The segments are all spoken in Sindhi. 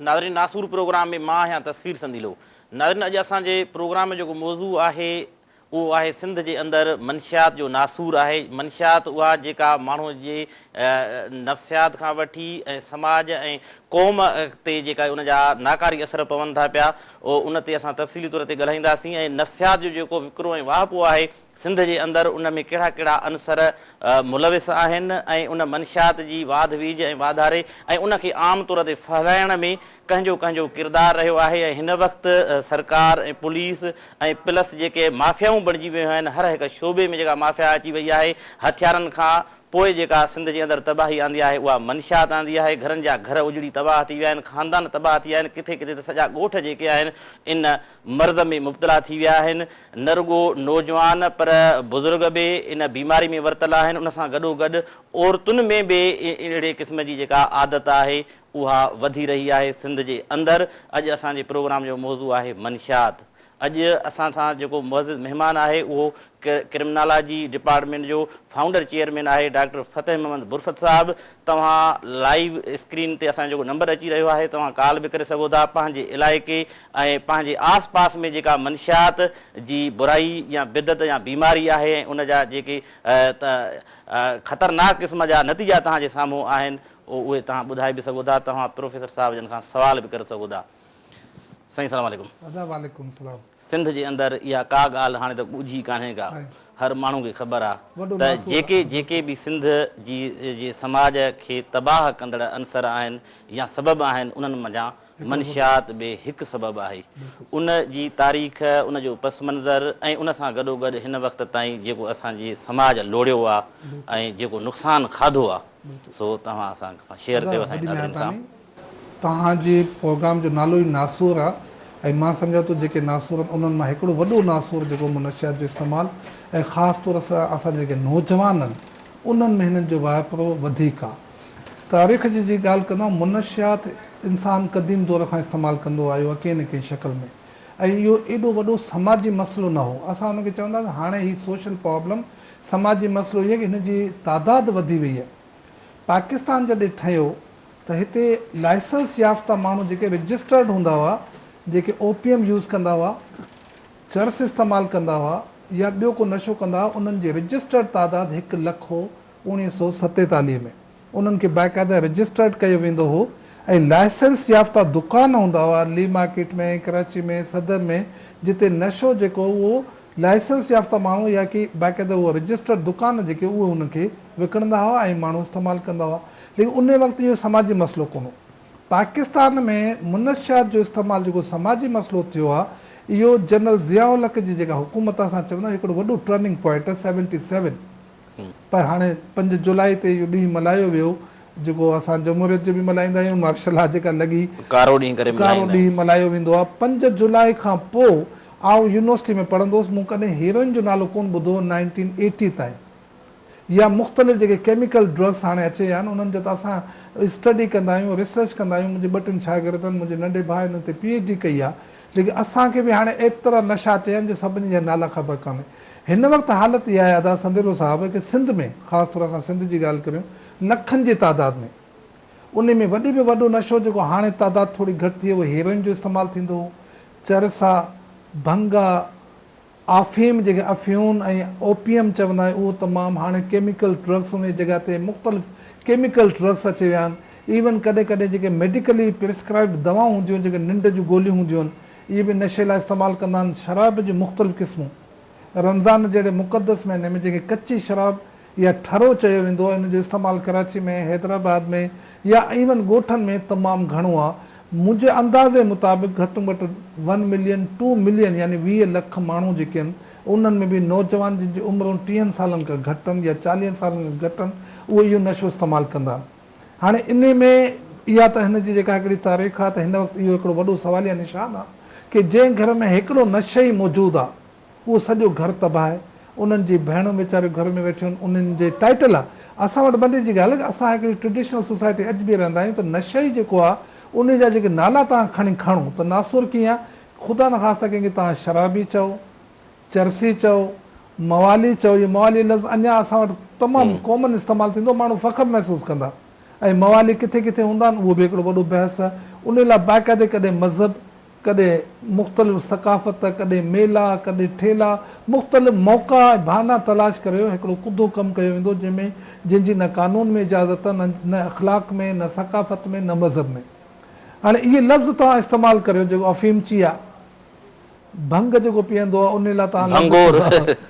ناظرين ناسور پروگرام ۾ مان آهيان تصوير سنديلو ناظرين اڄ اسان جي پروگرام ۾ جيڪو موضوع آهي اهو آهي سنڌ جي اندر منشيات جو ناسور آهي منشيات اها جيڪا ماڻهو جي نفسيات کان وٺي ۽ سماج ۽ قوم تي جيڪا ان جا ناڪاري اثر پون ٿا پيا ان تي اسان تفصيلي طور تي ڳالهائينداسين ۽ نفسيات جو جيڪو وڪرو ۽ واهپو آهي سنڌ جي اندر ان ۾ ڪهڙا ڪهڙا عنصر ملوث آهن ۽ ان منشيات جي واڌ ويجهه ۽ واڌاري ۽ ان کي عام طور تي ڦهلائڻ ۾ ڪنهنجو ڪنهنجو ڪردار رهيو آهي ۽ هن وقت سرڪار ۽ پوليس ۽ پلس جيڪي مافيائون بڻجي ويون آهن هر هڪ شعبي ۾ جيڪا مافيا اچي وئي آهي هٿيارن کان پوء جيڪا سنڌ جي اندر تباهي آندي آهي اها منشيات آندي آهي، گهرن جا گهر اجڙي تباهه ٿي ويا آهن، خاندان تباهه ٿي ويا آهن، ڪٿي ڪٿي ته سڄا ڳوٺ جيڪي آهن ان مرض ۾ مبتلا ٿي ويا آهن، نه رڳو نوجوان پر بزرگ به ان بيماري ۾ ورتل آهن، ان سان گڏوگڏ عورتن ۾ به اهڙي قسم جي جيڪا عادت آهي اها وڌي رهي آهي سنڌ جي اندر، اڄ اسان جي پروگرام جو موضوع آهي منشيات، اڄ اسان سان جيڪو معزز مهمان آهي اهو ڪرمنالاجي ڊپارٽمينٽ جو فائونڊر چيئرمين آهي ڊاڪٽر فتح محمد برفت صاحب توهان لائيو اسڪرين تي اسان جو جيڪو نمبر اچي رهيو آهي توهان ڪال به ڪري سگهو ٿا پنهنجي علائقي ۽ پنهنجي آس پاس ۾ جيڪا منشيات جي برائي يا بدعت يا بيماري آهي ۽ ان جا جيڪي خطرناڪ قسم جا نتيجا توهان جي سامهون آهن اهي توهان ٻڌائي به سگهو ٿا توهان پروفيسر صاحب جن کان سوال به ڪري سگهو ٿا. سائين سلام عليڪم. ادا وعليڪم سلام. سنڌ جي اندر اها ڪا ڳالهه هاڻي ته ڳجهي ڪانهي ڪا هر ماڻهو کي خبر آ ته جيڪي جيڪي به سنڌ جي جي سماج کي تباهه ڪندڙ عنصر آهن يا سبب آهن انهن منجهان منشيات به هڪ سبب آهي ان جي تاريخ ان جو پس منظر ۽ ان سان گڏو گڏ هن وقت تائين جيڪو اسان جي سماج لوڙيو آ ۽ جيڪو نقصان کاڌو آ سو توهان اسان سان شيئر ڪيو سائين ناظرين سان. توهان جي پروگرام جو نالو ئي ناسور آ ۽ مان سمجهان ٿو جيڪي ناسور آهن انهن مان هڪڙو وڏو ناسور جيڪو منشيات جو استعمال ۽ خاص طور سان اسان جيڪي نوجوان آهن انهن ۾ هنن جو واهپرو وڌيڪ آ. تاريخ جي جي ڳالهه ڪندو منشيات انسان قديم دور کان استعمال ڪندو آيو آ ڪنهن نه ڪنهن شڪل ۾ ۽ اهو ايڏو وڏو سماجي مسئلو نه هو اسان ان کي چونداسين هاڻي هي سوشل پرابلم سماجي مسئلو هي ڪي هن جي تعداد وڌي وئي آ پاڪستان جڏهن ٺهيو ته هتي لائسنس يافته ماڻهو جيڪي رجسٽرڊ هوندا هئا جيڪي او پي ايم يوز ڪندا هئا، چرس استعمال ڪندا هئا يا ٻيو ڪو نشو ڪندا هئا انهن جي رجسٽرڊ تعداد هڪ لک هو اوڻيهه سؤ ستيتاليهه ۾ انهن کي باقاعده رجسٽرڊ ڪيو ويندو هو ۽ لائسنس يافته دڪان هوندا هئا لي مارڪيٽ ۾ ڪراچي ۾ صدر ۾ جتي نشو جيڪو اهو لائسنس يافته ماڻهو يا ڪي باقاعده اهو رجسٽرڊ دڪان جيڪي اهي ان کي وڪڻندا هئا ۽ ماڻهو استعمال ڪندا هئا ليڪن ان وقت اهو سماجي مسئلو ڪونه هو. پاڪستان ۾ منشيات جو استعمال جيڪو سماجي مسئلو ٿيو آهي، اهو جنرل ضياء الحق جي جيڪا حڪومت اسان چون ٿا هڪڙو وڏو ٽرننگ پوائنٽ آهي سيونٽي سيون پر هاڻي پنج جولاء تي اهو ڏينهن ملهايو ويو جيڪو اسان جمهوريت جو به ملهائيندا آهيون مارشل لا جيڪا لڳي ڪارو ڏينهن ڪري ملهائيندا آهيون. ڪارو ڏينهن ملهايو ويندو آهي پنج جولاء کان پوء آئون يونيورسٽي ۾ پڙهندو هوس مون ڪڏهن هيروئن جو نالو ڪونه ٻڌو هو نائنٽين ايٽي تائين يا مختلف جيڪي ڪيميڪل ڊرگس هاڻي اچي ويا آهن انهن جو ته اسان اسٽڊي ڪندا آهيون ريسرچ ڪندا آهيون منهنجي ٻه ٽن شاگردن منهنجي ننڍي ڀاء انهن تي پي ايڇ ڊي ڪئي آهي ليڪن اسان کي به هاڻي ايترا نشا اچي ويا آهن جو سڀني جا نالا خبر ڪانهي هن وقت حالت اها آهي ادا سنديلو صاحب ڪي سنڌ ۾ خاص طور اسان سنڌ جي ڳالهه ڪريون لکن جي تعداد ۾ انهي ۾ وڏي ۾ وڏو نشو جيڪو هاڻي تعداد ٿوري گهٽ ٿي اهو هيروئن جو استعمال ٿيندو هو چرسا ڀنگ آفيم جنهن کي افيون ۽ اوپيم چوندا آهيون اهو تمام هاڻي ڪيميڪل ڊرگس ان جي جڳهه تي مختلف ڪيميڪل ڊرگس اچي ويا آهن ايون ڪڏهن ڪڏهن جيڪي ميڊيڪلي پريسڪرائبڊ دوائون هونديون آهن جيڪي ننڊ جون گوليون هونديون آهن اهي به نشي لاء استعمال ڪندا آهن شراب جون مختلف قسمون رمضان جهڙي مقدس مهيني ۾ جنهن کي ڪچي شراب يا ٺرو چيو ويندو آهي، ان جو استعمال ڪراچي ۾ حيدرآباد ۾ يا ايون ڳوٺن ۾ تمام گهڻو آهي. منهنجي اندازي مطابق گهٽ م گهٽ ون ملين ٽو ملين يعني ويهه لک ماڻهو جيڪي آهن انهن ۾ به نوجوان جن جي عمرون ٽيهن سالن کان گهٽ آهن يا چاليهن سالن کان گهٽ آهن اهي اهو نشو استعمال ڪندا آهن هاڻي انهي ۾ اها ته هن جي جيڪا هڪڙي تاريخ آهي ته هن وقت اهو هڪڙو وڏو سواليه نشان آهي ڪي جنهن گهر ۾ هڪڙو نشئي موجود آهي اهو سڄو گهر تباهه آهي انهن جي ڀيڻون ويچاريون گهر ۾ ويٺيون آهن انهن جي ٽائيٽل آ اسان وٽ بندي جي ڳالهه اسان هڪڙي ٽريڊيشنل سوسائٽي اڄ به رهندا آهيون ته نشئي جيڪو آ انهي جا جيڪي نالا توهان کڻي کڻو ته ناسور ڪيئن آ خدا نخواسته ڪنهن کي توهان شرابي چئو چرسي چئو موالي چئو اهو موالي لفظ اڃا اسان وٽ تمام ڪامن استعمال ٿيندو ماڻهو فخر محسوس ڪندا ۽ موالي ڪٿي ڪٿي هوندا آهن اهو به هڪڙو وڏو بحث آ انهي لاء باقاعدي ڪڏهن مذهب ڪڏهن مختلف ثقافت، ڪڏهن ميلا، ڪڏهن ٺيلا، مختلف موقعا ۽ بهانا تلاش ڪريو هڪڙو ڪڌو ڪم ڪيو ويندو جنهن ۾ جنهن جي نه قانون ۾ اجازت نه نه اخلاق ۾ نه ثقافت ۾ نه مذهب ۾ هاڻي اهي لفظ توهان استعمال ڪريو جيڪو افيم چيا ڀنگ جيڪو پيئندو آهي انهي لاء توهان لفظ ڀنگور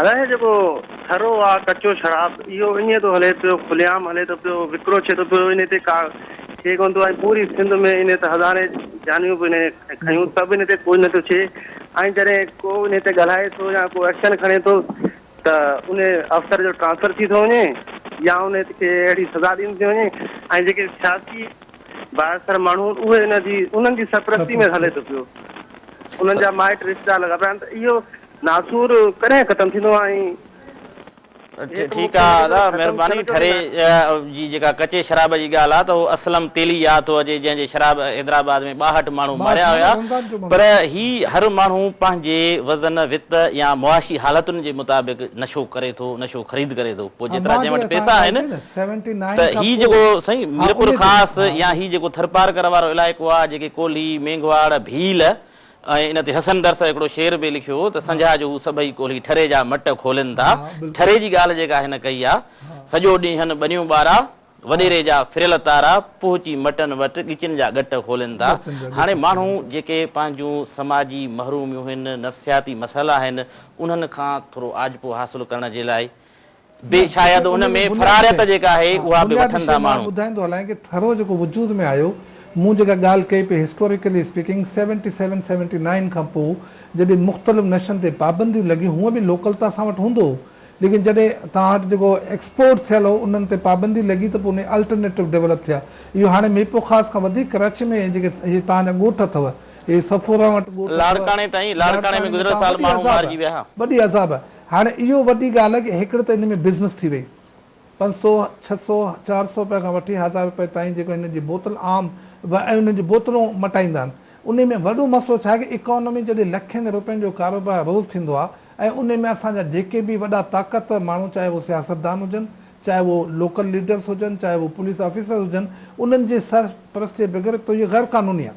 الاهي جيڪو ٿرو آ ڪچو شراب اهو اڃي ٿو هلي پيو کلي عام هلي ٿو پيو وڪرو ڇي ٿو پيو ان تي ڪا ڇي ڪون ٿو ۽ پوري سنڌ ۾ ان تي هزارين جانيون به ان کيون ته به ان تي ڪوئي نٿو ڇي ۽ جڏهن ڪو ان تي ڳالهائي ٿو يا ڪو ايڪشن کڻي ٿو ته ان افسر جو ٽرانسفر ٿي ٿو وڃي يا ان کي اهڙي سزا ڏني ٿي وڃي ۽ جيڪي سياسي بااثر ماڻهو اهي ان جي انهن جي سرپرستي ۾ هلي ٿو پيو. انهن جا مائٽ رشتيدار لڳا پيا آهن ته اهو ناسور ڪڏهن ختم ٿيندو ۽ ٺيڪ آ ادا مھرباني ٺري جي جيڪا ڪچي شراب جي ڳالھ آ ته اھو اسلم تيلي ياد ٿو اچي جنھن جي شراب حيدرآباد ۾ ٻاھٺ ماڻھو ماريا ھيا پر ھي ھر ماڻھو پنھنجي وزن وت يا معاشي حالتن جي مطابق نشو ڪري ٿو نشو خريد ڪري ٿو پوء جيترا جنھن وٽ پيسا آھن سيونٽي نائين ته کان هي پوء جيڪو سائين ها ميرپور انهي دور خاص ها يا هي جيڪو ٿرپارڪر وارو علائقو آ جيڪي ڪولهي، مينگهواڙ، ڀيل ۽ ان تي حسن درس هڪڙو شعر به لکيو هو ته سنجها جو هو سڀئي ڪولهي ٺري جا مٽ کولين ٿا ها بالڪل ٺري جي ڳالهه جيڪا هن ڪئي آ سڄو ڏينهن ٻنيون ٻارا ها وڏيري جا ڦريل تارا پهچي مٽن وٽ ڳچين جا ڳٽ کولين ٿا ڳچن جا هاڻي ڳٽ ماڻهو کولين ٿا جيڪي پنهنجون سماجي محروميون هن نفسياتي مسئلا آهن انهن کان ٿورو آجپو حاصل ڪرڻ جي لاء به شايد ان ۾ فراريت جيڪا آهي اها به وٺن ٿا ماڻهو. ٻڌائيندو هلان ڪي ٿرو جيڪو وجود ۾ آيو مون جيڪا ڳالهه ڪئي پئي historically speaking seventy seven seventy nine کان پو جڏهن مختلف نشن تي پابنديون لڳيون هونء به لوڪل ته اسان وٽ هوندو هو ليڪن جڏهن توهان وٽ جيڪو ايڪسپورٽ ٿيل هو انهن تي پابندي لڳي ته پو انهي الٽرنيٽو ڊيولپ ٿيا اهو هاڻي ميپو خاص کان وڌيڪ ڪراچي ۾ جيڪي هي توهان جا ڳوٺ اٿو هي صفوران وٽ ڳوٺ اٿو لاڙڪاڻي تائين لاڙڪاڻي ۾ لاڙڪاڻي ۾ گذريل توهان سال وڏي ماڻهو عذاب مارجي ويا ها. وڏي عذاب هاڻي اهو وڏي ڳالهه آهي ڪه هڪڙي ته ان ۾ بزنس ٿي وئي. پنج سؤ، ڇهه سؤ، چار سؤ رپيا کان وٺي هزار رپئي تائين جيڪو هنن جي بوتل عام ۽ انهن جون بوتلون مٽائيندا آهن. انهي ۾ وڏو مسئلو ڇا آهي ڪه اڪانومي جڏهن لکين رپين جو ڪاروبار روز ٿيندو آهي ۽ انهي ۾ اسان جا جيڪي به وڏا طاقتور ماڻهو چاهي اهو سياستدان هجن، چاهي اهو لوڪل ليڊرس هجن، چاهي اهو پوليس آفيسر هجن انهن جي سرپرستيء بغير ته اهي غير قانوني آهن.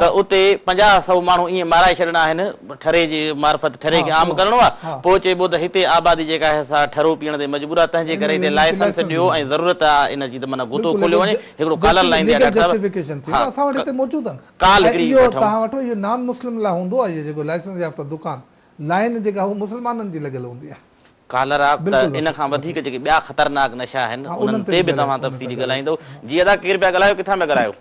ته اتي پنجاهه سؤ ماڻهو ائين مارائي ڇڏڻا آهن، ٺري جي معرفت ٺري کي عام ڪرڻو آ، پوء چئبو ته هتي آبادي جيڪا آهي سا ٺرو پيئڻ تي مجبور آ، تنهنجي ڪري هتي لائسنس ڏيو ۽ ضرورت آ ان جي ته معنيٰ غوطو کوليو وڃي، هڪڙو ڪالر لائين تي آ ڊاڪٽر صاحب، ها ڪال هڪڙي وٺو. ڪالر آ ته ان کان وڌيڪ جيڪي ٻيا خطرناڪ نشا آهن انهن تي به توهان تفصيلي ڳالهائيندؤ. جي ادا ڪير پيا ڳالهايو ڪٿان پيا ڳالهايو؟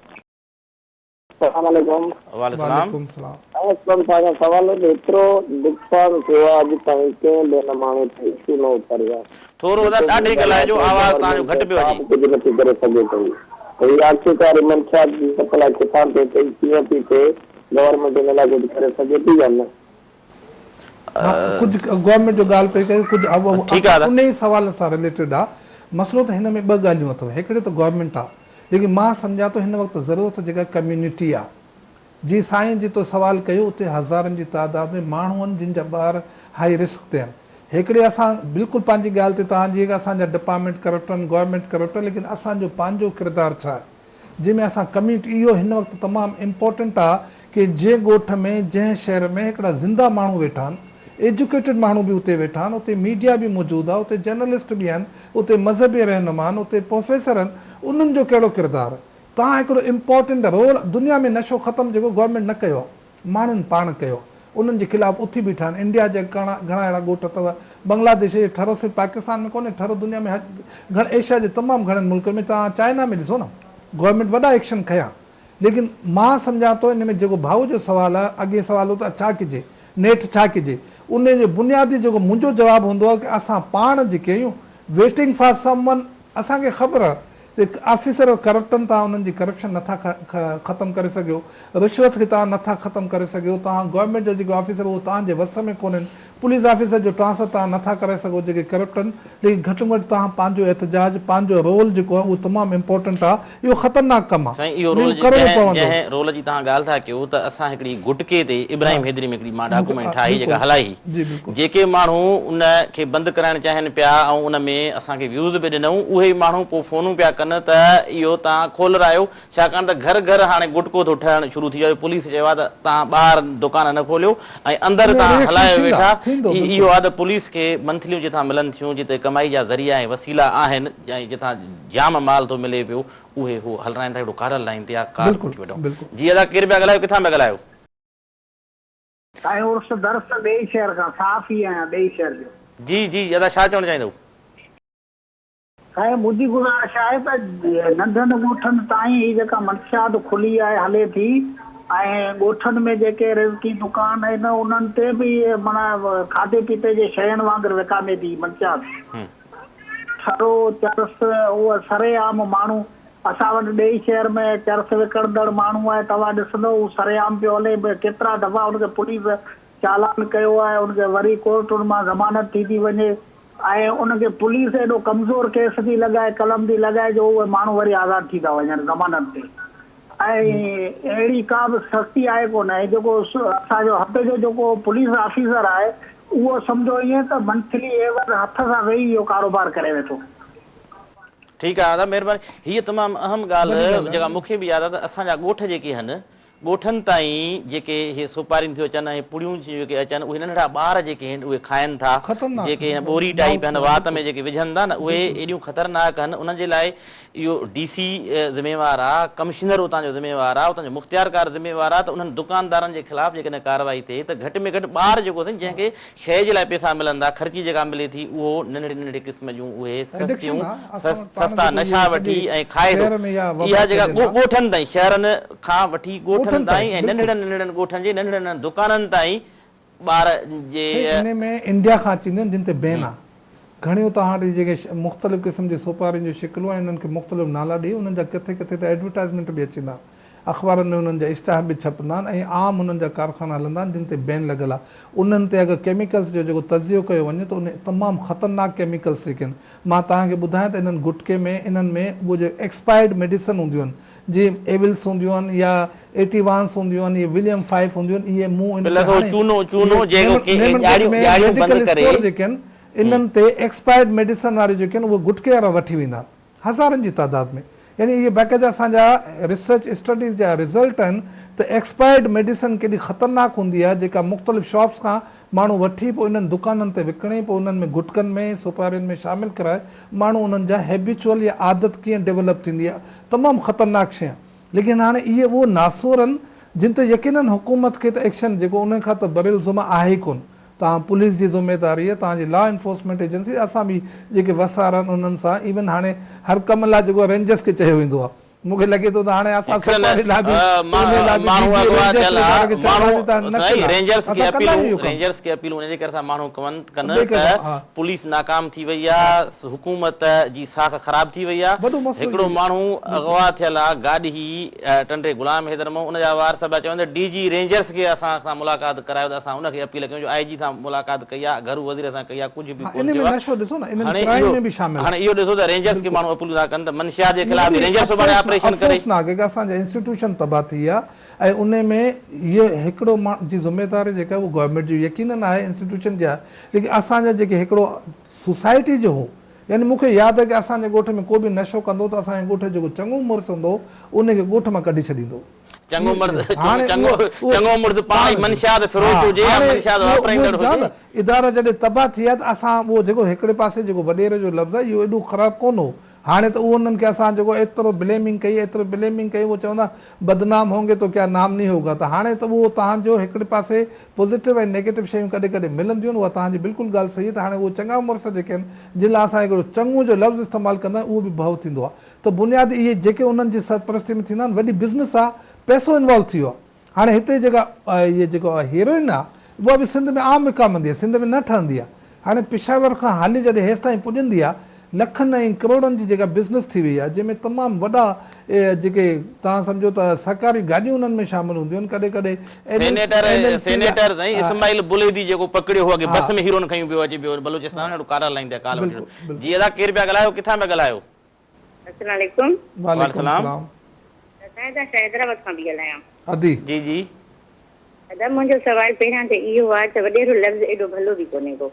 السلام عليڪم. وعليڪم السلام. سائين اسلم شاهه کان سوال هو جو ايترو نقصان ٿيو آهي اڄ تائين ڪنهن به هن ماڻهو تي اشو نه اٿاريو آهي. ٿورو ادا ڏاڍي ڳالهائجو آواز تهان جو گهٽ پيو اچي. ڪا به ڪجهه نٿي ڪري سگهي پئي ته هي آخرڪار هي منشيات جي سپلاء ڪٿان ٿي ٿئي ڪيئن ٿي ٿئي گورنمينٽ ان لاء ڪجهه ڪري سگهي ٿي يا نه. ها ڪجهه گورنمينٽ جو ڳالهه پئي ڪري ڪجهه اهو اهو اسان انهي سوال سان رليٽيڊ آ مسئلو ته هن ۾ ٻه ڳالهيون اٿو هڪڙي ته گورنمينٽ آ ليڪن مان سمجهان ٿو هن وقت ضرورت جيڪا ڪميونٽي آ جي سائين جي تو سوال ڪيو اتي هزارن جي تعداد ۾ ماڻهون آهن جن جا ٻار هائي رسڪ تي آهن هڪڙي اسان بلڪل پنهنجي ڳالهه تي توهان جي اسان جا ڊپارٽمينٽ ڪرپٽ آهن گورنمينٽ ڪرپٽ آهي ليڪن اسان جو پنهنجو ڪردار ڇا آهي جنهن ۾ اسان ڪميٽ اهو هن وقت تمام امپورٽنٽ آ ڪي جنهن ڳوٺ ۾ جنهن شهر ۾ هڪڙا زنده ماڻهو ويٺا آهن ايجوڪيٽيڊ ماڻهو به اتي ويٺا آهن اتي ميڊيا به موجود آ اتي جرنلسٽ به آهن اتي مذهبي رهنما آهن اتي پروفيسر آهن انهن جو ڪهڙو ڪردار آ تان هڪڙو امپورٽنٽ رول دنيا ۾ نشو ختم جيڪو گورنمينٽ نه ڪيو آ ماڻهن پاڻ ڪيو انهن جي خلاف اٿي بيٺا آهن انڊيا جا گهڻا اهڙا ڳوٺ اٿو بنگلا ديش جي ٺھرو صرف پاڪستان ۾ ڪونهي ٺھرو دنيا ۾ گهڻ ايشيا جي تمام گهڻن ملڪن ۾ توهان چائنا ۾ ڏسو نه گورنمينٽ وڏا ايڪشن کنيا ليڪن مان سمجهان ٿو ان ۾ جيڪو ڀائو جو سوال آهي اڳي سوال هو ته ڇا ڪجي نيٺ ڇا ڪجي انهي جو بنيادي جيڪو منهنجو جواب هوندو آهي ڪي اسان پاڻ جيڪي آهيون ويٽنگ فار سم ون اسان کي خبر هڪ آفيسر ڪرپٽن تان انهن جي ڪرپشن نٿا ختم ڪري سگهيو رشوت کي تان نٿا ختم ڪري سگهيو تان گورنمينٽ جا جيڪي آفيسر اهو تان جي وس ۾ ڪونهن پوليس آفيسر جو ٽرانسفر تان نٿا ڪرائي سگهو جيڪي ڪرپٽن ليڪن گهٽ م گهٽ تان پنهنجو احتجاج پنهنجو رول جيڪو آهي اهو تمام امپورٽنٽ آهي اهو خطرناڪ ڪم آهي سائين اهو رول جي جنهن جنهن رول جي تهان ڳالهه ٿا ڪيو ته اسان هڪڙي گهٽڪي تي ابراهيم حيدري ۾ هڪڙي مان ڊاڪومينٽ ٺاهي جيڪا هلائي هئي جيڪي ماڻهو ان کي بند ڪرائڻ چاهين پيا ۽ ان ۾ اسان کي ويوز به ڏنئون اهي ئي ماڻهو پوء فونون پيا ڪن ته اهو توهان کولرايو ڇاڪاڻ ته گهر گهر هاڻي گٽڪو ٿو ٺهڻ شروع ٿي ويو پوليس چيو آهي ته توهان ٻاهر دڪان نه کوليو ۽ اندر توهان هلايو ويٺا هي اهو آهي ته پوليس کي منٿليون جتان ملن ٿيون جتي ڪمائي جا ذريعا ۽ وسيلا آهن ۽ جتان جام مال ٿو ملي پيو اهي هو هلرائين ٿا هڪڙو ڪارل لائين تي آ ڪار ڪوٺي وٺون جي ادا ڪير پيا ڳالهايو ڪٿان پيا ڳالهايو. سائين عرس درس ٻئي شهر کان صاف ئي آهيان ٻئي شهر جو. جي جي ادا ڇا چوڻ چاهيندؤ. سائين منهنجي گذارش آهي ته ننڍن ڳوٺن تائين هي جيڪا منشيات کلي آهي هلي ٿي ۽ ڳوٺن ۾ جيڪي رزقي دڪان آهن انهن تي به معنيٰ کاڌي پيتي جي شين وانگر وڪامي ٿي منشيات. سرو، چرس، اهو سري عام ماڻهو اسان وٽ ڏيهي شهر ۾ چرس وڪڻندڙ ماڻهو آهي توهان ڏسندؤ هو سري عام پيو هلي ڪيترا دفعا ان کي پوليس چالان ڪيو آهي ان کي وري ڪورٽن مان ضمانت ٿي ٿي وڃي ۽ ان کي پوليس ايڏو ڪمزور ڪيس ٿي لڳائي قلم ٿي لڳائي جو اهي ماڻهو وري آزاد ٿي ٿا وڃن ضمانت تي. ۽ اهڙي ڪا به سختي آهي ڪونه ۽ جيڪو اسان جو هتي جو جيڪو پوليس آفيسر آهي اهو سمجهو ائين ته منٿلي اي ون هٿ سان ويهي اهو ڪاروبار ڪري ويٺو. ٺيڪ آهي آداب مهرباني هيء تمام اهم ڳالهه جيڪا مونکي به ياد آهي ته اسان جا ڳوٺ جيڪي هن ڳوٺن تائين جيڪي هي سوپارين ٿيون اچن ۽ پڙيون ٿيون جيڪي اچن اهي ننڍڙا ٻار جيڪي هن اهي کائن ٿا جيڪي هن ٻوري ٽائيپ هن وات ۾ جيڪي وجهن ٿا نه اهي ايڏيون خطرناڪ هن انهن جي لاء اهو ڊي سي ذميوار آ، ڪمشنر اتان جو ذميوار آ، اتان جو مختيارڪار ذميوار آ ته انهن دڪاندارن جي خلاف جيڪڏهن ڪارروائي ٿئي ته گهٽ ۾ گهٽ ٻار جيڪو سائين جنهن کي شيء جي لاء پيسا ملندا، خرچي جيڪا ملي ٿي اهو ننڍڙي ننڍڙي قسم جون اهي سستيون سستا نشا وٺي ۽ کائي ٿو. اها جيڪا ڳوٺن تائين شهرن کان وٺي ڳوٺن تائين ۽ ننڍڙن ننڍڙن ڳوٺن جي ننڍڙن ننڍڙن دڪانن تائين ٻار جي. سائين انهي ۾ انڊيا کان اچي اينديون آهن جن تي بين آهي گهڻيون توهان وٽ جيڪي مختلف قسم جي سوپارين جون شڪلون ۽ انهن کي مختلف نالا ڏئي انهن جا ڪٿي ڪٿي ته ايڊورٽائزمينٽ به اچيندا آهن اخبارن ۾ انهن جا اشتهار به ڇپندا آهن ۽ عام انهن جا ڪارخانا هلندا آهن جن تي بين لڳل آهي انهن تي اگر ڪيميڪلس جو جيڪو تجزيو ڪيو وڃي ته انهي تمام خطرناڪ ڪيميڪلس جيڪي آهن مان توهان کي ٻڌايان ته انهن گٽڪي ۾ انهن ۾ اهو جيڪي ايڪسپائرڊ ميڊيسن هونديون آهن جيم ايولس هونديون آهن يا ايٽي وانس هونديون آهن يا وليم فائف هونديون آهن اهي مون ان تي هاڻي اهي ميمڻ گيٽ ۾ ميڊيڪل اسٽور جيڪي آهن انهن تي ايڪسپائرڊ ميڊيسن واريون جيڪي آهن اهي گٽڪي وارا وٺي ويندا آهن هزارن جي تعداد ۾ يعني اهي باقاعده اسان جا ريسرچ اسٽڊيز جا رزلٽ آهن ته ايڪسپائرڊ ميڊيسن ڪيڏي خطرناڪ هوندي آهي جيڪا مختلف شاپس کان ماڻهو وٺي پوء انهن دڪانن تي وڪڻي پوء انهن ۾ گٽڪن ۾ سوپارين ۾ شامل ڪرائي ماڻهو انهن جا هيبيچوئل يا عادت ڪيئن ڊيولپ ٿيندي آهي تمام خطرناڪ شي آهن ليڪن هاڻي اهي اهو ناسور آهن جن تي يقينن حڪومت کي ته ايڪشن جيڪو انهن کان ته برالزم آهي ئي ڪون توهان پوليس جي ذميداري آهي توهان جي لا انفورسمينٽ ايجنسي اسان به جيڪي وسارا آهن انهن سان ايون هاڻي هر ڪم لا جيڪو رينجرس کي چيو ويندو آهي مون کي لڳي ٿو ته هاڻي آسا سوپاري لاء به پوني لاء به ڊي جي رينجرز ۽ ڌارا کي چئڻ راضي ته نه ٿيندا اسان ڪندا آهيون اهو ڪم. رينجرز کي اپيلون ان جي ڪري ٿا ماڻهو ڪن ته پوليس ناڪام ٿي وئي آهي حڪومت جي ساک خراب ٿي وئي آهي هڪڙو ماڻهو اغوا ٿيل آهي گاڏهي ٽنڊي غلام حيدر مئو ان جا وارث پيا چون ته ڊي جي رينجرز کي اسان سان ملاقات ڪرايو ته اسان ان کي اپيل ڪيون جو آء جي سان ملاقات ڪئي آهي گهرو وزير سان ڪئي آهي ڪجهه ها ان ۾ نشو ڏسو نه انهن ڪرائم ۾ به شامل آهي. هاڻي اهو ڏسو ته رينجرز کي ماڻهو اپلو ٿا ڪن ته منشيات جي خلاف به رينجر سڀاڻي آپريشن ڪري. افسوسناڪ هي ڪه اسان جا انسٽيٽيوشن تباهه ٿي ويا ۽ ان ۾ هيء هڪڙو ماڻهو جي ذميواري جيڪا هئي اهو گورنمينٽ جي يقينن آهي انسٽيٽيوشن جي آهي ليڪن اسان جا جيڪي هڪڙو سوسائٽي جو هو يعني مون کي ياد آهي ڪه اسان جي ڳوٺ ۾ ڪو به نشو ڪندو هو ته اسان جي ڳوٺ جو جيڪو چڱو مڙس هوندو هو ان کي ڳوٺ مان ڪڍي ڇڏيندو هو. چڱو مرض چڱو مرض پاڻ ئي منشيات فروش هجي يا منشيات واپرائيندڙ هجي. ادارا جڏهن تباهه ٿي ويا ته اسان اهو جيڪو هڪڙي پاسي جيڪو وڏيري جو لفظ آهي اهو ايڏو خراب ڪونه هو. هاڻي ته اهو انهن کي اسان جيڪو ايترو بليمنگ ڪئي ايترو بليمنگ ڪئي اهو چوندا بدنام هونگي تو ڪيا نام نهي هوگا ته هاڻي ته اهو تهان جو هڪڙي پاسي پوزيٽو ۽ نيگيٽو شيون ڪڏهن ڪڏهن ملنديون آهن اها تهان جي بلڪل ڳالهه صحيح آهي ته هاڻي اهو چڱا مرس جيڪي آهن جن لاء اسان هڪڙو چڱو جو لفظ استعمال ڪندا آهيون اهو به ڀؤ ٿيندو آهي ته بنياد اهي جيڪي انهن جي سرپرستي ۾ ٿيندا آهن وڏي بزنس آ پئسو انوالو ٿي ويو آ هاڻي هتي جيڪا اهي جيڪو هيروئن آ اها به سنڌ ۾ عام وڪامندي آ سنڌ ۾ نه ٺهندي آ هاڻي پشاور کان هلي جڏهن هيستائين پڄندي آ لکن ۽ ڪروڙن جي جيڪا بزنس ٿي وئي آ جنهن ۾ تمام وڏا جيڪي توهان سمجهو ته سرڪاري گاڏيون انهن ۾ شامل هونديون آهن ڪڏهن ڪڏهن M N senator M N C جا سينيٽر سائين اسماعيل بليدي جيڪو پڪڙيو هو اڳي ها بس ۾ هيروئن کنيون پيو اچي پيو بلوچستان ها اهڙو ڪارا لائين تي ڪال وٺي بلڪل ويو جي بلڪل ادا ڪير پيا ڳالهايو ڪٿان پيا ڳالهايو. السلام عليڪم. وعليڪم وعليڪم السلام. السلام. ادب صاحب اسان حيدرآباد کان پي ڳالهايان. ادي. جي جي. ادب منهنجو سوال پهريان ته اهو آ ته وڏيرو لفظ ايڏو ڀلو به ڪونهي ڪو.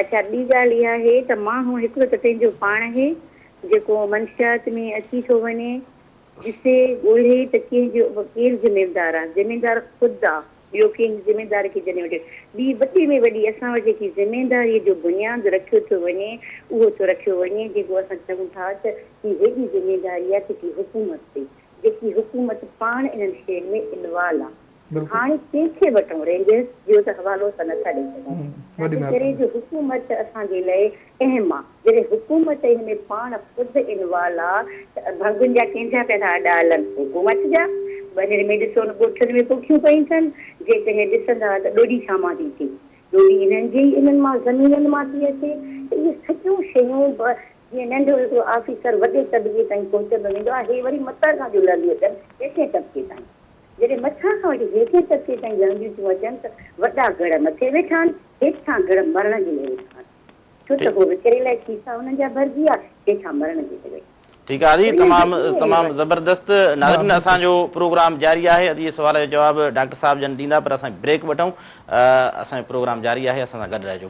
اڇا ٻي ڳالهه اها آهي ته ماڻهو هڪڙو ته پنهنجو پاڻ آهي جيڪو منشيات ۾ اچي ٿو وڃي ڏسي ڳولهي ته ڪنهن جو ڪير زميندار آ زميندار خود آ ٻيو ڪنهن جي ذميواري کي جڏهن وٺي ٻي وڏي ۾ وڏي اسان وٽ جيڪي ذميواريء جو بنياد رکيو ٿو وڃي اهو ٿو رکيو وڃي جيڪو اسان چئون ٿا ته هي هيڏي ذميواري آهي فڪري حڪومت تي جيڪي حڪومت پاڻ انهن شين ۾ انوالو آهي ته هاڻي ڪنهن کي وٺون رينجرز جو ته حوالو اسان نٿا ڏئي سگهون تنهنڪري جو حڪومت اسان جي لاء تنهن مان جڏهن حڪومت ان ۾ پاڻ خود انوالو آ ته ڀنگن جا ڪنهن جا پيا ٿا اڏا هلن حڪومت جا ٻنهر ۾ ڏسو نه ڳوٺن ۾ پوکيون پيون ٿن جيڪڏهن ڏسندا ته ڏوڏي ڇا مان ٿي ٿئي ڏوڏي انهن جي ئي انهن مان زمينن مان ٿي اچي ته اهي سڄيون شيون به جيئن ننڍو هڪڙو آفيسر وڏي طبقي تائين پهچندو ويندو آ هي وري مٿان کان ٿيون لهنديون اچن هيٺين طبقي تائين جڏهن مٿان کان وٺي هيٺين طبقي تائين لهنديون ٿيون اچن ته وڏا گڙهه مٿي ويٺا آهن هيٺان گڙهه مرڻ جي ۾ ويٺا آهن. ڇو ته هو ويچاري لاء کيسا هنن جا ڀرجي ويا، هي ڇا مرڻ جي ڪري. ٺيڪ آ ادي تمام تمام زبردست ناظرين اسان جو پروگرام جاري آهي ادي سوال جو جواب ڊاڪٽر صاحب جن ڏيندا پر اسان بريڪ وٺون اسان جو پروگرام جاري آهي اسان سان گڏ رهجو.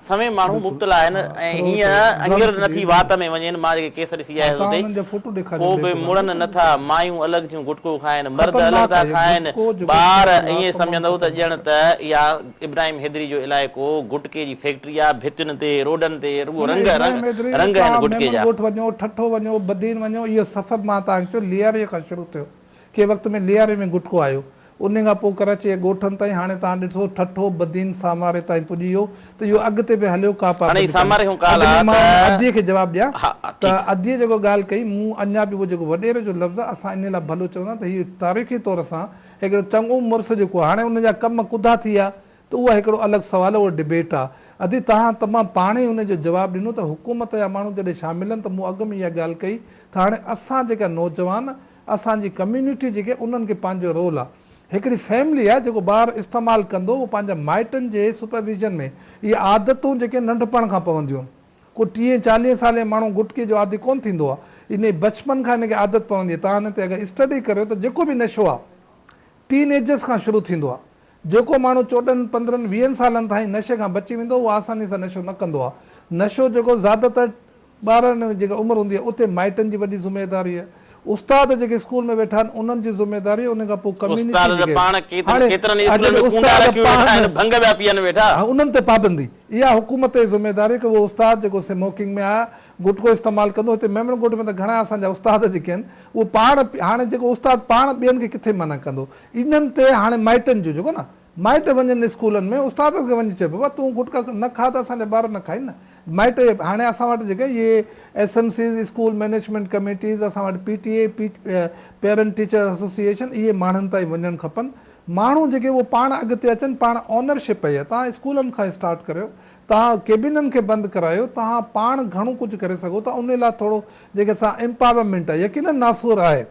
سوين ماڻهو بلڪل مبتلا آهن ها ۽ ٿرو ٿرو هينئر ڊرمس اڃير نه ٿي وات ۾ وڃين مان جيڪي ڪيس ڏسي ها آيس توهان اتي انهن جا فوٽو ڏيکاريو ڪو به بيڪو گانو مڙن نه ٿا مايون الڳ ٿيون گٽڪو کائن مرد الڳ خطرناڪ ٿا آهي کائن گٽڪو جيڪو ٻار استعمال آهي ائين تمام سمجهندو ته ڄڻ خطرناڪ ته آهي اها ابراهيم حيدري جو علائقو گٽڪي جي فيڪٽري آهي ڀتين تي روڊن تي رڳو نه نه رنگ رنگ ابراهيم حيدري رنگ آهن توهان گٽڪي ميمڻ جا ڳوٺ وڃو ٺٽو وڃو بدين وڃو اهو سفر مان توهان کي چيو لياري کان شروع ٿيو ڪنهن وقت ۾ لياري ۾ گٽڪو آيو. انهيء کان پوء ڪراچيء جي ڳوٺن تائين هاڻي توهان ڏٺو ٺٽو، بدين، ساماري تائين پڄي ويو ته اهو اڳتي به هليو ڪا پاڪ به ڪانهي. اڳ ۾ مان ان ادي کي جواب ڏيان ته اديء جيڪو ڳالهه ڪئي مون اڃا به اهو جيڪو وڏيري جو لفظ آهي اسان انهيء لاء ڀلو چوندا ته هيء تاريخي طور سان هڪڙو چڱو مڙس جيڪو آهي هاڻي ان جا ڪم ڪڌا ٿي ويا ته اهو هڪڙو الڳ سوال آهي اهو ڊبيٽ آهي. ادي توهان ته مان پاڻ ئي انهيء جو جواب ڏنو ته حڪومت جا ماڻهو جڏهن شامل آهن ته مون اڳ ۾ اها ڳالهه ڪئي ته هاڻي اسان جيڪا نوجوان اسان جي ڪميونٽي جيڪي انهن کي پنهنجو رول آ هڪڙي فيملي آ جيڪو ٻار استعمال ڪندو اهو پنهنجا مائٽن جي سپرويزن ۾ اهي عادتون جيڪي ننڍپڻ کان پونديون آهن ڪو ٽيهين چاليهين سالين ماڻهو گٽڪي جو عادي ڪونه ٿيندو آ انهي بچپن کان ان کي عادت پوندي تان هن تي اگر اسٽڊي ڪريو ته جيڪو به نشو آ ٽين ايجز کان شروع ٿيندو آ جيڪو ماڻهو چوڏهن پندرهن ويهن سالن تائين نشي کان بچي ويندو اهو آساني سان نشو نه ڪندو آ نشو جيڪو زياده تر ٻارڙن جي جيڪا عمر هوندي آهي اتي مائٽن جي وڏي ذميداري آهي استاد جيڪي اسڪول ۾ ويٺا آهن انهن جي ذميداري آهي انهن کان پوء ڪميونٽي جيڪي هاڻي جيڪي استاد پاڻ ها انهن تي پابندي اها حڪومت جي ذميداري آهي ڪي اهو استاد جيڪو سموڪنگ ۾ آهي گٽڪو استعمال ڪندو هتي ميمڻ ڳوٺ ۾ ته گهڻا اسان جا استاد جيڪي آهن اهو پاڻ هاڻي جيڪو استاد پاڻ ٻين کي ڪٿي منع ڪندو انهن تي هاڻي مائٽن جو جيڪو نه مائٽ وڃن اسڪولن ۾ استادن کي وڃي چئبو آ تون گٽڪا نه کا ته اسان جا ٻار نه کائين نه مائٽ اهي هاڻي اسان وٽ جيڪي اهي S M Cs school management committees اسان وٽ P T A parent teacher association اهي ماڻهن تائين وڃڻ کپن ماڻهو جيڪي اهو پاڻ اڳتي اچن پاڻ اونر شپ پئي آ تهان اسڪولن کان اسٽارٽ ڪريو تهان ڪيبنن کي بند ڪرايو تهان پاڻ گهڻو ڪجهه ڪري سگهو ٿا انهي لاء ٿورو جيڪي سا امپاورمينٽ آ يقينن ناسور آهي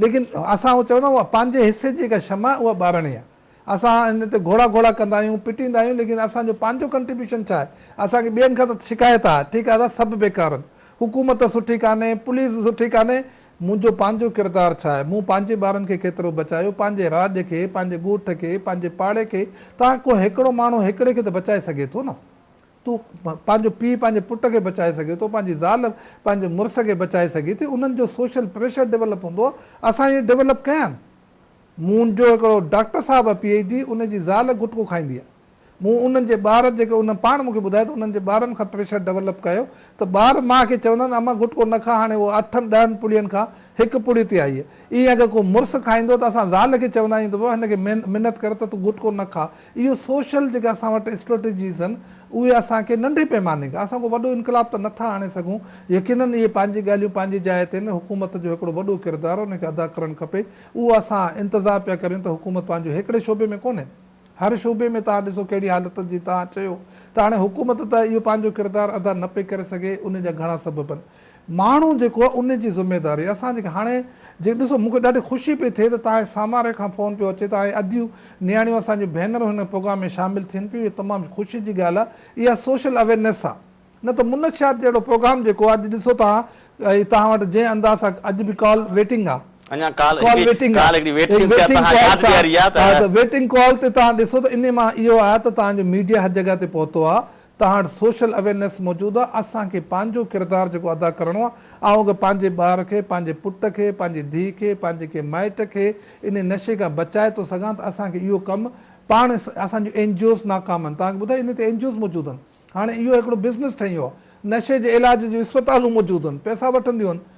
ليڪن اسان اهو چئون ٿا اها پنهنجي حصي جي جيڪا شمع آهي اها ٻارڻي آهي. اسان ان تي گهوڙا گهوڙا ڪندا آهيون، پٽيندا آهيون ليڪن اسان جو پنهنجو ڪنٽريبيوشن ڇا آهي؟ اسان کي ٻين کان ته شڪايت آهي، ٺيڪ آهي سڀ بيڪار آهن، حڪومت سٺي ڪانهي، پوليس سٺي ڪانهي، منهنجو پنهنجو ڪردار ڇا آهي؟ مون پنهنجي ٻارن کي ڪيترو بچايو؟ پنهنجي راڄ کي، پنهنجي ڳوٺ کي، پنهنجي پاڙي کي، تان ڪو هيڪڙو ماڻهو هيڪڙي کي ته بچائي سگهي ٿو نه. تون پنهنجو پيء پنهنجي پٽ کي بچائي سگهي ٿو پنهنجي زال پنهنجي مڙس کي بچائي سگهي ٿي انهن جو سوشل پريشر ڊولپ هوندو اسان اهي ڊولپ ڪيا آهن مون جو هڪڙو ڊاڪٽر صاحب آهي پي ايڇ ڊي ان جي زال گٽڪو کائيندي آهي مون انهن جي ٻار جيڪي ان پاڻ مون کي ٻڌايو ته انهن جي ٻارن کان پريشر ڊولپ ڪيو ته ٻار ماء کي چوندا آهن اما گٽڪو نه کا هاڻي اهو اٺن ڏهن پڙين کان هڪ پڙي تي آئي اهي اگر ڪو مڙس کائيندو ته اسان زال کي چوندا آهيون ته هن کي منت ڪر ته تون گٽڪو نه کا اهي سوشل جيڪي اسان وٽ اسٽريٽجيز آهن اهي اسان کي ننڍي پيماني کان اسان ڪو وڏو انقلاب ته نٿا آڻي سگهون يقينن اهي پنهنجي ڳالهيون پنهنجي جاء تي آهن حڪومت جو هڪڙو وڏو ڪردار ان کي ادا ڪرڻ کپي اهو اسان انتظار پيا ڪريون ته حڪومت پنهنجو هيڪڙي شعبي ۾ ڪونهي هر شعبي ۾ توهان ڏسو ڪهڙي حالت جي توهان چيو ته هاڻي حڪومت ته اهو پنهنجو ڪردار ادا نه پئي ڪري سگهي ان جا گهڻا سبب آهن ماڻهو جيڪو آهي ان جي ذميداري اسان جيڪي هاڻي جي ڏسو مون کي ڏاڍي خوشي پئي ٿئي ته تاهي ساماري کان فون پيو اچي ته آهي اديون نياڻيون اسان جون ڀينرون هن پروگرام ۾ شامل ٿين پيون اهي تمام خوشي جي ڳالهه آهي اها سوشل اويرنيس آهي نه ته منشيات جهڙو پروگرام جيڪو آهي اڄ ڏسو توهان اهي توهان وٽ جنهن انداز سان اڄ به ڪال ويٽنگ آهي اڃا ڪال ڪال هڪڙي ويٽنگ ڪال هڪڙي آهي ويٽنگ ٿي توهان ياد ڏياري آهي ته ويٽنگ ڪال تي توهان ڏسو ته انهي مان اهو آهي ته توهان جو ميڊيا هر جڳهه تي پهتو آهي تهاڻ سوشل اويرنيس موجود آ اسان کي پنهنجو ڪردار جيڪو ادا ڪرڻو آ آئون اگر پنهنجي ٻار کي پنهنجي پٽ کي پنهنجي ڌيء کي پنهنجي ڪنهن مائٽ کي انهي نشي کان بچائي ٿو سگهان ته اسان کي اهو ڪم پاڻ اسان جون اين جي اوز ناڪام آهن توهان کي ٻڌايو انهي تي اين جي اوز موجود آهن هاڻي اهو هڪڙو بزنس ٺهي ويو آ نشي جي علاج جون اسپتالون موجود آهن پئسا وٺنديون آهن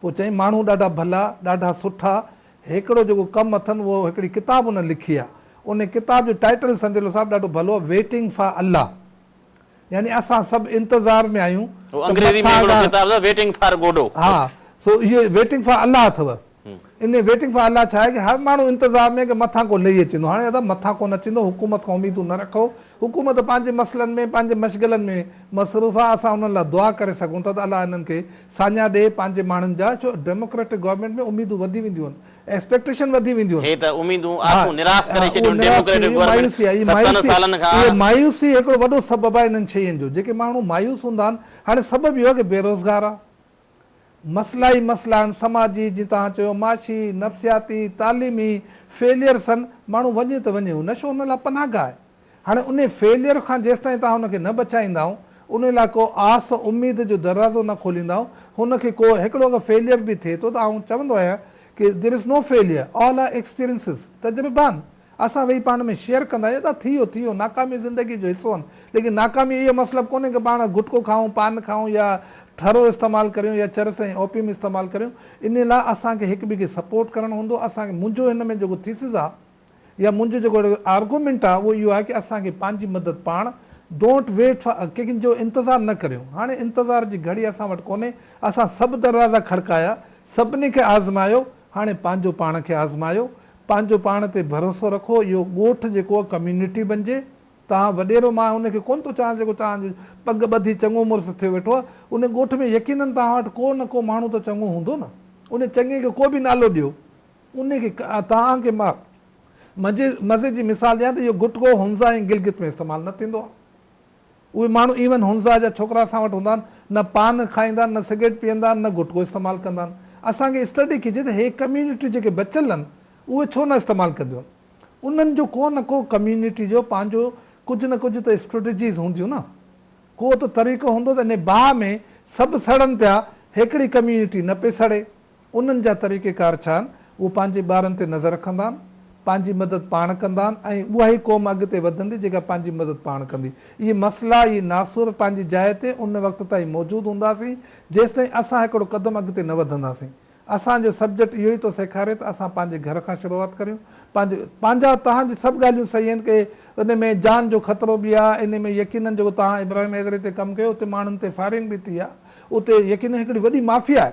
پوء چيائين، ماڻهو ڏاڍا ڀلا، ڏاڍا سٺا، هيڪڙو جيڪو ڪم اٿن اهو هڪڙي ڪتاب انهن لکي آ، انهي ڪتاب جو ٽائيٽل سنجلو صاحب ڏاڍو ڀلو آ، ويٽنگ فار الله يعني اسان سڀ انتظار ۾ آهيون هو ته انگريزي ۾ هڪڙو مٿاهاڳاڙ ڪتاب اٿس ويٽنگ فار گوڊو. ها سو اهي ويٽنگ فار الله اٿو انهي ويٽنگ فار الله ڇا آهي ڪي هر ماڻهو انتظار ۾ آهي ڪي مٿان ڪو لهي اچي ويندو هاڻي ادا مٿان ڪونه اچي ويندو حڪومت کان اميدون نه رکو حڪومت پنهنجي مسئلن ۾ پنهنجي مشغلن ۾ مصروف آ اسان انهن لاء دعا ڪري سگهون ٿا ته الله انهن کي ساڃاهه ڏئي پنهنجي ماڻهن جا ڇو ڊيموڪريٽڪ گورنمينٽ ۾ اميدون وڌي وينديون ايڪسپيڪٽيشن وڌي وينديون. هي ته اميدون ها آسون نراس ڪري ها اهو ڇڏيون نراس ٿي ڊيموڪريٽڪ وينديون گورنمينٽ مايوسي آهي ستن مايوسي سالن کان اهي مايوسي هڪڙو وڏو سبب آهي انهن شين جو جيڪي ماڻهو مايوس هوندا آهن هاڻي سبب اهو آهي ڪي بيروزگار آهي مسئلا ئي مسئلا آهن سماجي جي توهان چيو معاشي نفسياتي تعليمي فيليئرس آهن ماڻهو وڃي ته وڃي هو نشو هن لاء پناهگاهه آهي. هاڻي انهي فيليئر کان جيستائين توهان هن کي نه بچائيندائون، ان لاء ڪو آس اميد جو دروازو نه کوليندائون، هن کي ڪو هڪڙو اگر فيليئر به ٿئي ٿو ته آئون چوندو آهيان ڪي There is no failure، All are experiences، تجربان اسان ويهي پاڻ ۾ شيئر ڪندا آهيون ادا ٿي ويو ٿي ويو ناڪاميون زندگي جو حصو آهن ليڪن ناڪامي اهو مطلب ڪونهي ڪي پاڻ گٽڪو کائون پان کائون يا ٺرو استعمال ڪريون يا چرس ۽ اوپيم استعمال ڪريون انهي لاء اسان کي هڪ ٻئي کي سپورٽ ڪرڻ هوندو اسان کي منهنجو هن ۾ جيڪو ٿيسز آهي يا منهنجو جيڪو آرگومينٽ آهي اهو اهو آهي ڪي اسان کي پنهنجي مدد پاڻ Don't wait for ڪنهن جو انتظار نه ڪريون هاڻي انتظار جي گهڙي اسان وٽ ڪونهي اسان سڀ دروازا کڙڪايا سڀني کي آزمايو هاڻي پنهنجو پاڻ کي آزمايو پنهنجو پاڻ تي ڀروسو رکو اهو ڳوٺ جيڪو ڪميونٽي بنجي توهان وڏيرو مان ان کي ڪونه ٿو چاهيان جيڪو توهان جو پڳ ٻڌي چڱو مڙس ٿيو ويٺو آهي ان ڳوٺ ۾ يقينن توهان وٽ ڪو نه ڪو ماڻهو ته چڱو هوندو نه ان چڱي کي ڪو به نالو ڏيو انهيء کي توهان کي مان مزي جي مثال ڏيان ته اهو گٽڪو هنزا ۽ گلگت ۾ استعمال نه ٿيندو آهي. اهي ماڻهو ايون هنزا جا ڇوڪرا اسان وٽ هوندا آهن، نه پان کائيندا آهن، نه سگريٽ پيئندا آهن، نه گٽڪو استعمال ڪندا آهن. اسان کي اسٽڊي ڪجي ته هي ڪميونٽيون جيڪي بچيل آهن، اهي ڇو نه استعمال ڪنديون آهن. انهن جو ڪو نه ڪو ڪميونٽي جو پنهنجو ڪجهه نه ڪجهه ته اسٽريٽجيز هونديون نه. ڪو ته طريقو هوندو ته انهيء باهه ۾ سڀ سڙن پيا، هيڪڙي ڪميونٽي نه پئي سڙي. انهن جا طريقيڪار ڇا آهن؟ اهو پنهنجي ٻارن تي نظر رکندا آهن، پنهنجي مدد پاڻ ڪندا آهن ۽ اها ئي قوم اڳتي وڌندي جيڪا پنهنجي مدد پاڻ ڪندي. اهي مسئلا، اهي ناسور پنهنجي جاء تي ان وقت تائين موجود هونداسين جيستائين اسان هڪڙو قدم اڳتي نه وڌنداسين. اسان جو سبجيڪٽ اهو ئي ٿو سيکاري ته اسان پنهنجي گهر کان شروعات ڪريون. پنهنجي. پنهنجا. توهان جي سڀ ڳالهيون صحيح آهن ڪي ان ۾ جان جو خطرو به آهي ان ۾ يقينن جيڪو توهان ابراهيم حيدري تي ڪم ڪيو اتي ماڻهن تي فائرنگ به ٿي آهي اتي يقينن هڪڙي وڏي مافيا آهي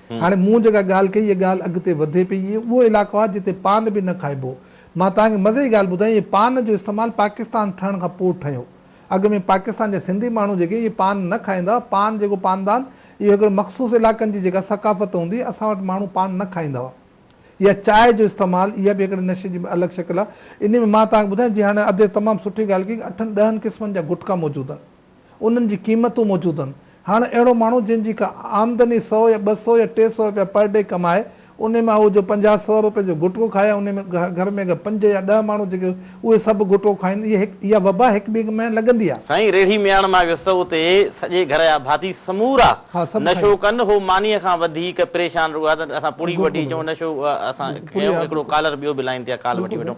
هاڻي مون جيڪا ڳالهه ڪئي، اها ڳالهه اڳتي وڌي پئي. اهو اهو علائقو آهي، جتي پان به نه کائبو. مان توهان کي مزي جي ڳالهه ٻڌايان، اهي پان جو استعمال پاڪستان ٺهڻ کان پوء ٺهيو. اڳ ۾ پاڪستان جا سنڌي ماڻهو جيڪي اهي پان نه کائيندا هئا. پان جيڪو پاندان، اهو هڪڙن مخصوص علائقن جي جيڪا ثقافت هوندي هئي، اسان وٽ ماڻهو پان نه کائيندا هئا. يا چانهه جو استعمال، اها به هڪڙي نشي جي الڳ شڪل آهي. انهيء ۾ مان توهان کي ٻڌايان، جيئن هاڻي ادي تمام سٺي ڳالهه ڪئي، اٺن ڏهن قسمن جا گٽڪا موجود آهن. انهن جي قيمتون موجود هن. هاڻ اهڙو ماڻهو جنهن جي ڪا آمدني سؤ يا ٻه سؤ يا ٽي سؤ رپيا پر ڊي ڪمائي انهي مان هو جو پنجاهه سؤ رپين جو گٽڪو کائي انهي ۾ گهر ۾ اگر پنج يا ڏهه ماڻهو جيڪي اهي سڀ گٽڪو کائين اهي هڪ اها وبا هڪ ٻئي ۾ لڳندي آ. سائين ريڙهي مياڻ مان ويس اتي سڄي گهر جا ڀاتي سمورا نشو ڪن هو مانيء کان وڌيڪ پريشان رڳو آ ته اسان پوڙهي وٺي اچون نشو اسان ڪيون هڪڙو ڪالر ٻيو به لائين تي آ ڪال وٺي وٺون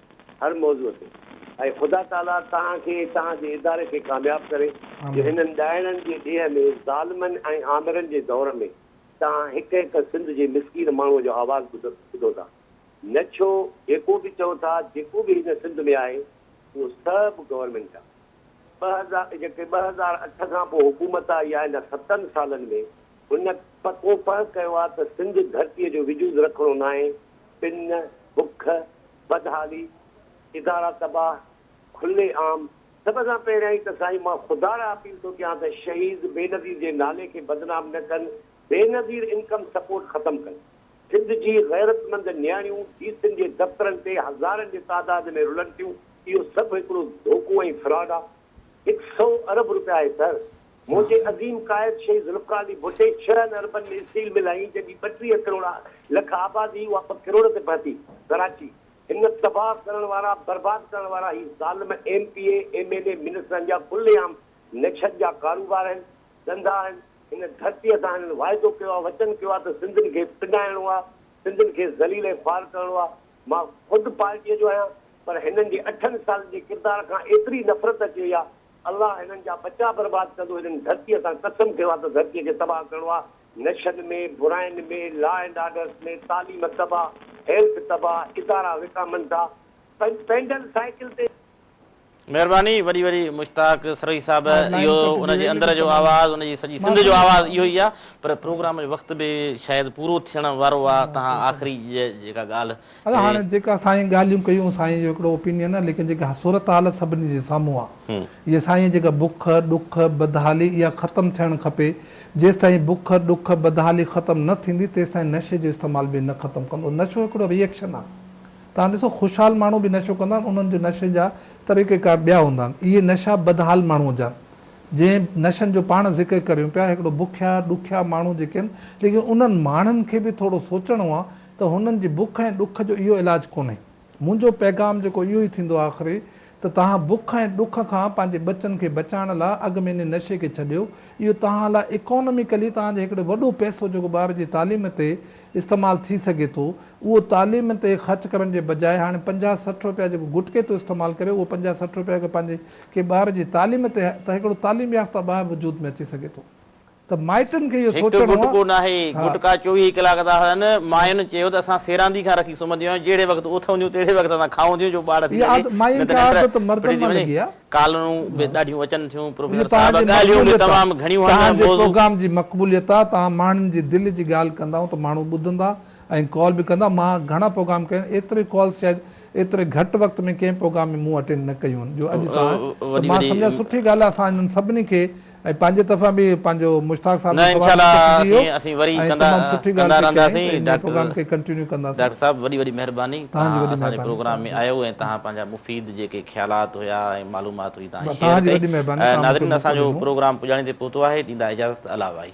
هر موضوع تي اي خدا تعاليٰ توهان کي توهان جي اداري کي ڪامياب ڪري جو آمين. هنن ڏائڻن جي ڏيهه ۾ ظالمن ۽ آمرن جي دور ۾ توهان هڪ هڪ سنڌ جي مسڪين ماڻهو جو آواز ٻڌ ٻڌو ٿا نه ڇو جيڪو به چئو ٿا جيڪو به هن سنڌ ۾ آهي اهو سڀ گورنمينٽ جا ٻه هزار جيڪي ٻه هزار اٺ کان پوء حڪومت آئي آهي ان ستن سالن ۾ هن پڪو پهه ڪيو آهي ته سنڌ ڌرتيء جو وجود رکڻو ناهي، پن، بک، بدحالي، ادارا تباهه، کلي عام. سڀ کان پهريائين ته سائين مان خدا ڏانهن اپيل ٿو ڪيان ته شهيد بينظير جي نالي کي بدنام نه ڪن، بينظير انڪم سپورٽ ختم ڪن. سنڌ جي غيرتمند نياڻيون ڊي سين جي دفترن تي هزارن جي تعداد ۾ رلن ٿيون، اهو سڀ هڪڙو ڌوڪو ۽ فراڊ آهي. هڪ سئو ارب روپيا آهي سر. منهنجي عظيم قائد شهيد ذوالفقار علي ڀٽي ڇهن اربن ۾ اسٽيل مل هنئي جنهن جي ٻٽيهه ڪروڙا لک آبادي هئي اها ٻه ڪروڙ تي پهتي. ڪراچي هن تباهه ڪرڻ وارا برباد ڪرڻ وارا هي ظالم M P A M N A منسٽرن جا کلي عام نڇن جا ڪاروبار آهن ڌنڌا آهن هن ڌرتي سان هنن واعدو ڪيو آهي وچن ڪيو آهي ته سنڌين کي پنڊائڻو آهي سنڌين کي ذليل ۽ خوار ڪرڻو آهي مان خود پارٽيء جو آهيان پر هنن جي اٺن سالن جي ڪردار کان ايتري نفرت اچي وئي آهي الله هنن جا ٻچا برباد ڪندو هنن ڌرتيء سان قسم کيو آهي ته ڌرتيء کي تباهه ڪرڻو آهي نشن ۾ براين ۾ لا اينڊ آرڊرس ۾ تعليم تباهه هيلٿ تباهه ادارا وڪامندا پئنڊل سائيڪل تي. مھرباني وڏي وڏي مشتاق سروھي صاحب اھو ان جي اندر جو آواز ان جي سڄي سنڌ جو آواز اھو ئي آ پر پروگرام جو وقت به شايد پورو ٿيڻ وارو آ تھان آخري جيڪا ڳالھ اھي جيڪا سائين ڳالھيون ڪيون سائين جو ھڪڙو اوپينين آ ليڪن جيڪا صورت حال سڀني جي سامھون آ ھي سائين جيڪا بک ڏک بدحالي اھا ختم ٿيڻ کپي جيستائين بک ڏک بدحالي ختم نه ٿيندي تيستائين نشي جو استعمال به نه ختم ڪندو نشو ھڪڙو ري ايڪشن آ توهان ڏسو خوشحال ماڻهو به نشو ڪندا آهن انهن جو نشي جا طريقيڪار ٻيا هوندا آهن اهي نشا بدحال ماڻهو جا جنهن نشن جو پاڻ ذڪر ڪريون پيا هڪڙو بکيا ڏکيا ماڻهو جيڪي آهن ليڪن انهن ماڻهن کي به ٿورو سوچڻو آهي ته هنن جي بک ۽ ڏک جو اهو علاج ڪونهي منهنجو پيغام جيڪو اهو ئي ٿيندو آخري ته توهان بک ۽ ڏک کان پنهنجي ٻچن کي بچائڻ لاء اڳ ۾ انهي نشي کي ڇڏيو اهو توهان لاء اڪانوميڪلي توهان جي هڪڙي وڏو پئسو جيڪو ٻار جي تعليم تي استعمال ٿي سگهي ٿو اهو تعليم تي خرچ ڪرڻ جي بجاء هاڻي پنجاهه سٺ رپيا جيڪو گٽڪي ٿو استعمال ڪري اهو پنجاهه سٺ رپيا اگر پنهنجي ڪنهن ٻار جي تعليم تي ته هڪڙو تعليم يافته ٻار وجود ۾ اچي سگهي ٿو ته مائٽن کي اهو هڪ سوچڻو گٽڪو ناهي ها. گٽڪا چوويهه ڪلاڪ ٿا هلن ماين چيو ته اسان سيراندي کان رکي سمهنديون آهيون جهڙي وقت اٿون ٿيون تهڙي وقت اسان کائون ٿيون جو ٻاڙ ٿي اها سگهي عادت ماين نه ته کي ننڊ عادت مردن ڦٽجي مان وڃي. لڳي آهي. ڪالرون به ڏاڍيون اچن ٿيون پروفيسر صاحب ڳالهيون به تمام گهڻيون آهن توهان جي پروگرام جي مقبوليت آ توهان ماڻهن جي دل جي ڳالهه ڪندائون ته ماڻهو ٻڌندا ۽ ڪال به ڪندا مان گهڻا پروگرام ڪيا آهن ايتري ڪالز شايد ايتري گهٽ وقت ۾ ڪنهن پروگرام ۾ مون اٽينڊ نه ڪيون آهن جو اڄ توهان ته مان سمجهان سٺي ڳالهه آ اسان انهن سڀني کي ۽ پنهنجي طرفان به پنهنجو مشتاق صاحب جو سوال به ڪٽجي ويو ۽ تمام سٺي ڳالهه پئي ڪيائين ته ان پروگرام کي ڪنٽينيو ڪنداسين. ڊاڪٽر صاحب وڏي وڏي مهرباني تهان اسان جي پروگرام ۾ آيو ۽ تهان پنهنجا مفيد جيڪي خيالات هيا ۽ معلومات هئي تهان شيئر ڪئي ناظرين اسان جو پروگرام پڄاڻي تي پهتو آهي ڏيندا اجازت الله وائي.